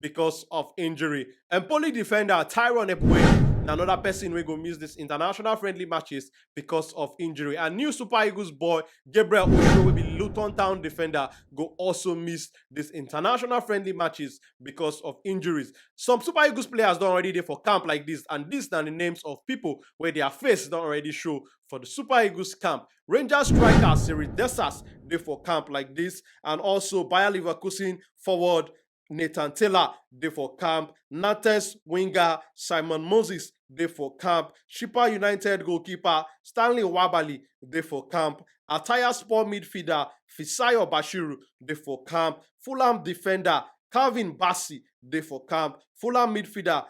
because of injury. Empoli defender Tyrone Ebuehi na another person wey go miss this international friendly matches because of injury. And new Super Eagles boy Gabriel Osho wey be Luton Town defender go also miss this international friendly matches because of injuries. Some Super Eagles players don already dey for camp like this and these na the names of people wey their face don already show for the Super Eagles camp. Rangers striker Sirit Desas dey for camp like this and also Bayer Leverkusen forward Nathan Taylor dey for camp, Nantes winger Simon Moses dey for camp, Shippa United goalkeeper Stanley Nwabali dey for camp, Ataya Spor midfielder Fisayo Bashiru dey for camp, Fulham defender Calvin Bassey dey for camp, Fulham midfielder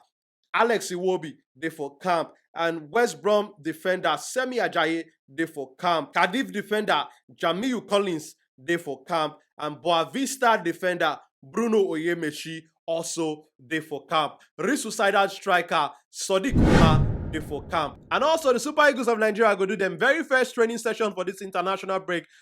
Alex Iwobi dey for camp and West Brom defender Semi Ajayi dey for camp. Cardiff defender Jamiu Collins dey for camp and Boavista defender Bruno Oyemeshi also dey for camp. Real Sociedad striker Sodiq Umar dey for camp. And also, the Super Eagles of Nigeria go do dem very first training session for this international break